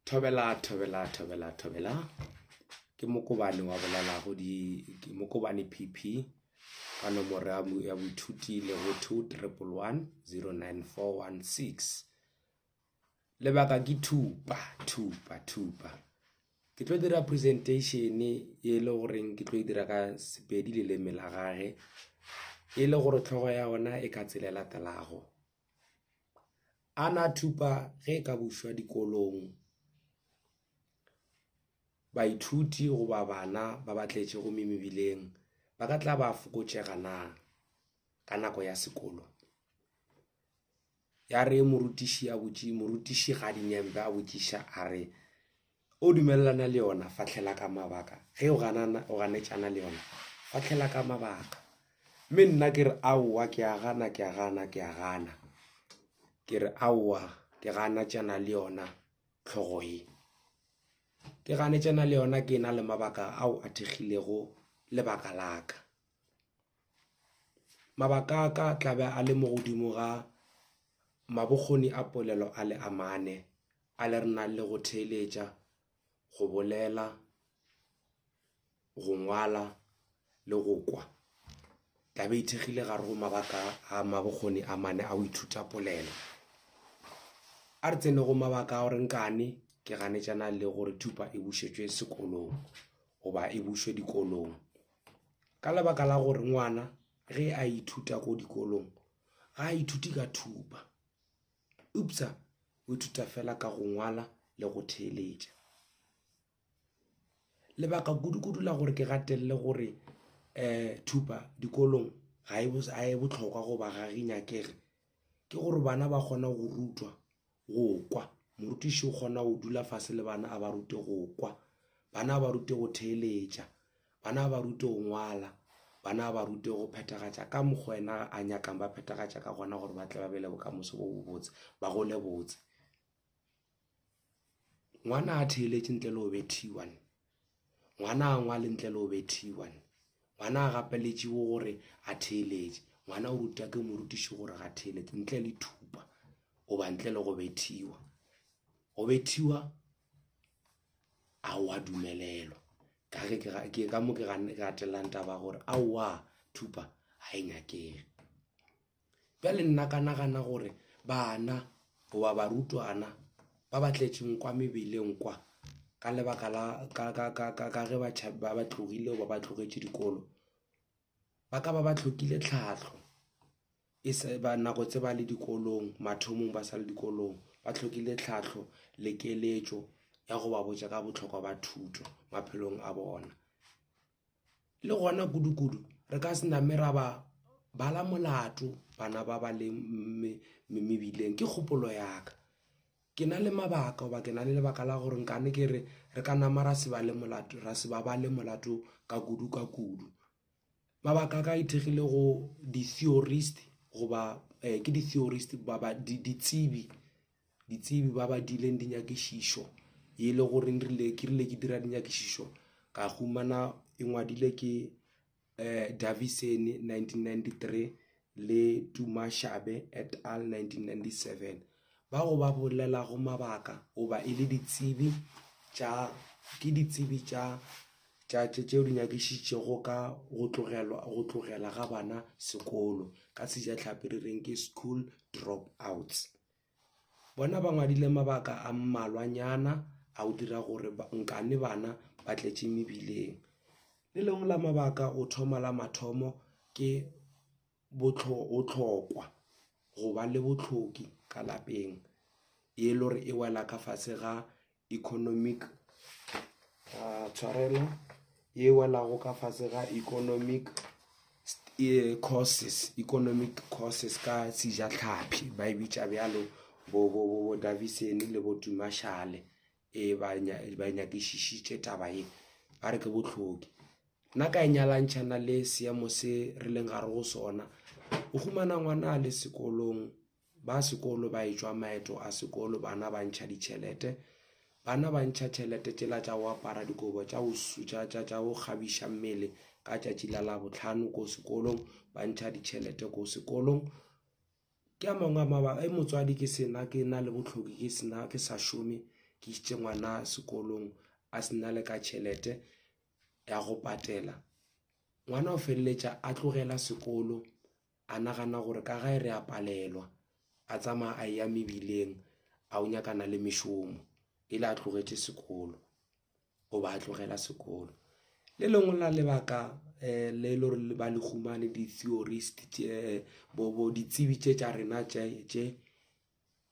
thobela thobela thobela thobela ke mokobane wa bolelago di ke mokobane pp ka nomoro ya bo- ya boithuti le go two triple one zero nine four one six lebaka ke thupa thupa thupa ke tlo dira presentation e le goreng ke tlo e dira ka sepedi leleme la gage e le gore tlhogo ya ona e ka tsela e latelago A na thupa ge e ka bušwa dikolong baithuti goba bana ba ba tletše gomme mebileng ba ka tla ba fokotšega na ka nako ya sekolo? Yare morutiši a botše morutišigadi Nyembe a botšiša a re, O dumelelana le yona, fahlela ka mabaka. Ge o ganana, o ganetšana le yona, fahlela ka mabaka. Mme nna ke re, aowa, ke a gana, ke a gana, ke a gana. Ke re, aowa, ke ganetšana le yona tlhogo ye. Ke ganetšana le yona ke na le mabaka ao a thekgilego lebaka la ka. Mabaka a ka tla be a le mo godimo ga mabokgoni a polelo a le a mane A le re na le go theeletša, go bolela, go ngwala le go kwa? Taba e ithekgile gare go mabaka a mabokgoni a mane a go ithuta polelo. A re tsene go mabaka a gore nkane ke ganetšana le gore thupa e bušetšwe sekolong goba e bušwe dikolong. Ka lebaka la gore ngwana ge a ithuta ko dikolong ga a ithuti ka thupa. Eupsa o ithuta fela ka go ngwala le go theeletša. Lebaka kudu-kudu la gore ke gatelele gore um thupa dikolong ga e bohlokwa goba ga e nyakege ke gore bana ba kgona go rutwa go kwa, morutiši o kgona go dula fase le bana a ba rute go kwa. Bana a ba rute go theeletša, Bana ba rutwe go ngwala. Bana ba rutwe go phethagatša ka mokgo Yena a nyakang ba phethagatša ka gona gore ba tle ba be le bokamoso bo bobotse, ba gole botse. Ngwana ha theeletše ntle le go bethiwa ne? Ngwana ha ngwale ntle le go bethiwa ne? Ngwana ha gapeletšiwe gore a theeletše. Ngwana o rutwa ke morutiši gore ga theeletše ntle le thupa goba ntle le go bethiwa. Go bethiwa. aowa dumelelo ka ge ke ka mo ke gatellang taba gore aowa thupa ga e nyakege bjale nna ka nagana gore bana goba barutwana ba ba tletšeng kwa mebeleng kwa ka lebaka la ka ge ba ba tlogile goba ba tlogetše dikolo ba ka ba ba tlhokile tlhahlo E se ba nako tse ba le dikolong, mathomong ba sa le dikolong, ba hlokile tlhahlo le keletšo ya go ba botša ka bohlokwa ba thuto maphelong a bona. Le gona kudukudu re ka se name ra ba bala molato bana ba ba leng mebileng. Ke kgopolo ya ka. Ke na le mabaka goba ke na le lebaka la gore nkane ke re re ka nama ra se bale molato, ra se ba bale molato ka kudu ka kudu. Mabaka a ka a ithekgile go di-theorist goba eh, ke di-theorist baba ditsebi ditsebi ba ba dileng dinyakišišo e le gore rile ke rile ke dira dinyakišišo ka humana e ngwadile ke eh Davison 1993 le Dumashabe et al. 1997, bao ba bolelago mabaka goba e le ditsebi tša ke ditsebi tša tša tšeo di nyakišitšego ka go tlogelwa go tlogela ga bana sekolo, ka Sejatlhapi re reng ke school drop-outs. Bona ba ngwadile mabaka a mmalwanyana a go dira gore nkane bana ba tletše mebileng. Le lengwe la mabaka go thoma la mathomo ke bohlokwa go ba le bohloki ka lapeng, e le gore e wela ka fase ga economic tshwarelo ye welago ka fase ga economic courses economic courses ka sejatlhapi ba e bitša bjalo bo bo bo bo davison le bo tumashale e ba ba nyakišišitše taba ye ba re ke bohloki nna ka e nyalantšhana le seemo se re leng gare go sona o humana ngwana a le sekolong Ba sekolo ba etšwa maeto a sekolo, bana ba ntšha ditšhelete. Bana ba ntšha tšhelete tšela tša go apara dikobo tša go sutša tša tša go kgabiša mmele ka tšatši la Labohlano ko sekolong, ba ntšha ditšhelete ko sekolong. Ke a mangwe a mabaka, e motswadi ke sena ke na le bohloki ke sena ke sa šome, ke isitše ngwana sekolong a se na le ka tšhelete ya go patela. Ngwana o feleletša a tlogela sekolo a nagana gore ka gae re a palelwa a tsamaya a eya mebileng a o nyakana le mešomo e le a tlogetše sekolo o ba a tlogela sekolo le lengwe la lebaka eh, le le gore ba le humane di-theorist tše bobo ditsebi tše tša rena tše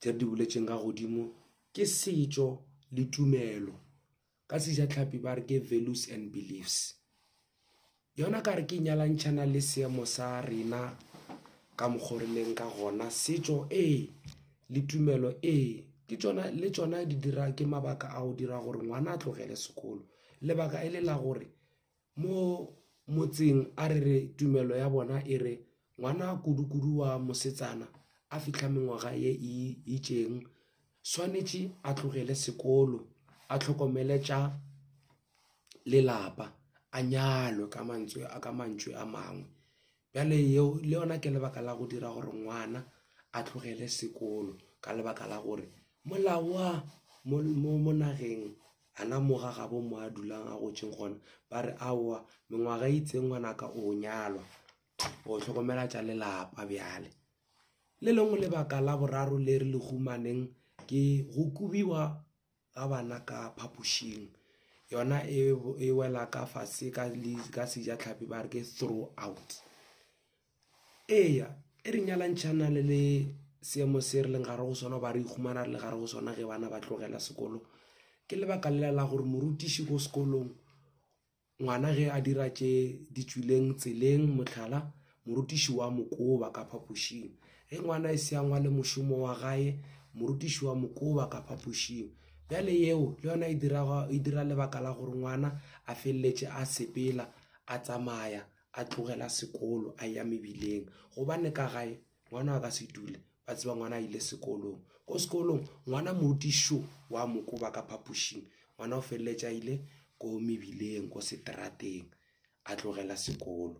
tše re di boletšeng ka godimo ke setšo le tumelo ka sejatlhapi ba re ke values and beliefs yona ka re ke nyalantšhana le seemo sa rena ka mokgwa re leng ka gona setšo ee le tumelo ee ke tsona le tsona di dira ke mabaka a go dira gore ngwana a tlogele sekolo lebaka e le la gore Mo motseng a re re tumelo ya bona e re ngwana kudu-kudu wa mosetsana a fihla mengwaga ye e itšeng swanetše a tlogele sekolo a hlokomele tša lelapa a nyalwe ka mantswe a mangwe. bjale yeo le yona ke lebaka la go dira gore ngwana a tlogele sekolo ka lebaka la gore molao wa mo nageng ana moga ga bo mo a dulang a gotseng gona ba re aowa mengwaga e itseng ngwanaka o nyalwa o tlhokomela tša lelapa bjale le lengwe lebaka la boraro le re le humaneng ke go kobiwa ga bana ka phapošing yona e, e wela ka fase ka, ka sejatlhapi ba re ke throw out eya e re nyalantšhana le le seemo se re leng gare go sona ba re ihumana re le gare go sona ge bana ba tlogela sekolo ke lebaka lela la gore morutiši ko sekolong Ngwana ge a dira tše di tšwileng tseleng, mohlala, morutiši wa mo koba ka phapošing. Ge ngwana e se a ngwale mošomo wa gae, morutiši wa mo koba ka phapošing. Bjale yeo le yona e dira, e dira lebaka la gore ngwana a feleletše a sepela, a tsamaya, a tlogela sekolo, a eya mebileng. Gobane ka gae ngwana a ka se dule ba tseba ngwana a ile sekolong ko sekolong ngwana modišo wa mokoba ka phapošing ngwana o feleletša ile ko mebileng ko seterateng a tlogela sekolo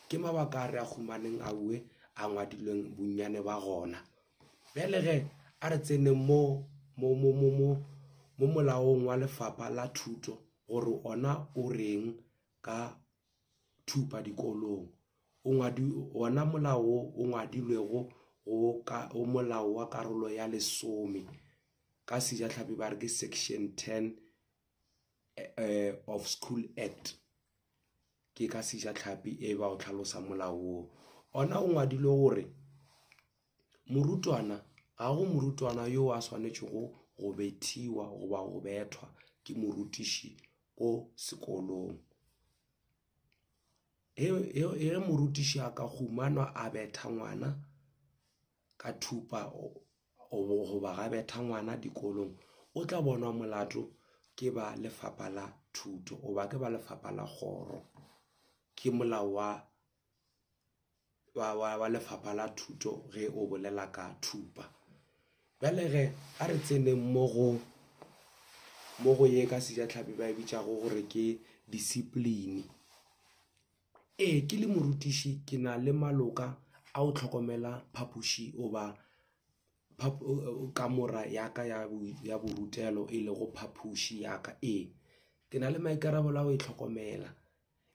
ke mabaka a re a humaneng a bue a ngwadilweng bonnyane ba gona bjale ge a re tseneng mo mo mo mo mo mo molaong wa lefapha la thuto gore ona o reng ka thupa dikolong o ngwadi ona molao o ngwadilwego go ka o molao wa karolo ya lesome ka sejatlhapi ba re ke section 10 eh of school act ke ka sejatlhapi e ba o tlhalosa molao ona o ngwadilwe gore Morutwana, Ga go morutwana yo a swanetšego go bethiwa goba go bethwa ke morutiši ko sekolong. Ge morutiši a ka humanwa a betha ngwana ka thupa goba ga betha ngwana dikolong, o tla bonwa molato ke ba lefapha la thuto goba ke ba lefapha la kgoro. Ke molao wa wa, wa, wa lefapha la thuto ge o bolela ka thupa bjale ge a re tseneng mo go mo go ye ka sejatlhapi ba e bitšago gore ke discipline ee ke le morutiši ke na le maloka a go tlhokomela phapoši goba kamora ya ka ya bo ya borutelo e lego phapoši ya ka ee ke na le maikarabelo a go e tlhokomela.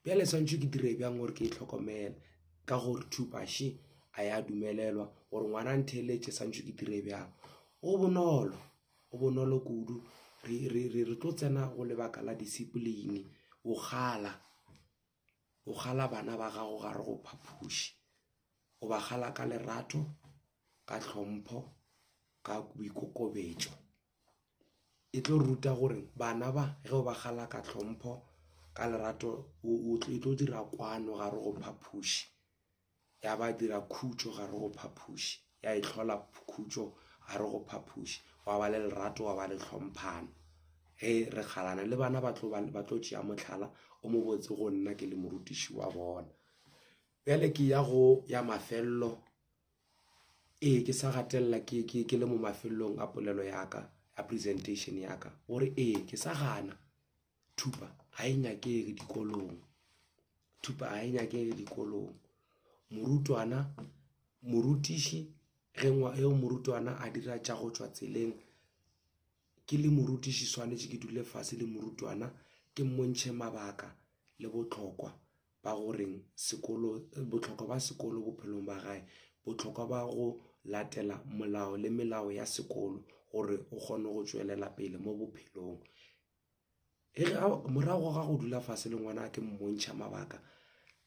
Bjale swantšho ke dire bjang gore ke e tlhokomele ka gore thupaše a ya dumelelwa gore ngwana a ntheeletše swantšho ke dire bjang go bonolo go bonolo kudu re re re re tlo tsena go lebaka la discipline go kgala go kgala bana ba gago gare go phapoši go ba kgala ka lerato ka tlhompho ka boikokobetšo. e tlo ruta gore bana ba ge o ba gala ka tlhompho ka lerato e tlo dira kwano gare go phapoši ya ba dira khutšo gare go phapoši ya e tlhola khutšo gare go phapoši wa ba le lerato wa ba le tlhomphano ge re kgalana le bana ba tlo tšea mohlala o mo botse go nna ke le morutiši wa bona bjale ke ya go ya mafelelo ee ke sa gatelela ke ke ke le mo mafelong a polelo yaka a presentation yaka gore ee ke sa gana thupa ga e nyakege dikolong thupa ga e nyakege dikolong morutwana morutiši ge ngwa eo morutwana a dira tša go tšwa tseleng ke le morutiši swanetše ke dule fase le morutwana ke mmontšhe mabaka le botlhokwa ba go reng sekolo botlhokwa ba sekolo bophelong ba gae botlhokwa ba go latela molao le melao ya sekolo gore o kgone go tswelela pele mo bophelong e re morago ga go dula fase le ngwana ke mmontšha mabaka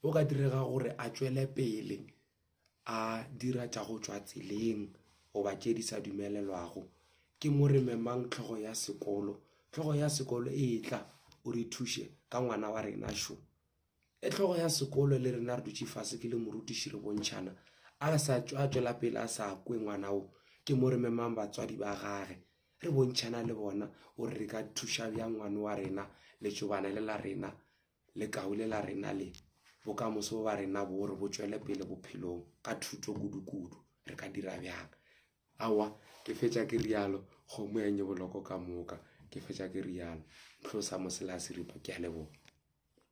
o ka direga gore a tswele pele a dira tša go tšwa tseleng goba tše di sa dumelelwago ke mo re memang tlhogo ya sekolo tlhogo ya sekolo e tla o re thuše ka ngwana wa rena šo e tlhogo ya sekolo le rena re dutše fase ke le morutiši re bontšhana a sa a tswela pele a sa kwe ngwana o ke mo re memang batswadi ba gage re bontšhana le bona gore re ka thuša bjang ngwana wa rena letšobana le la rena Lekaule la rena le, bokamoso ba rena bo re bo tšwele pele bophelong ka thuto kudukudu. Re ka dira bjang? Aowa, ke fetša ke rialo, kgomo ya nyeboloko ka moka. Ke fetša ke rialo. Ntlhosa moselaya seripa. Ke a leboga.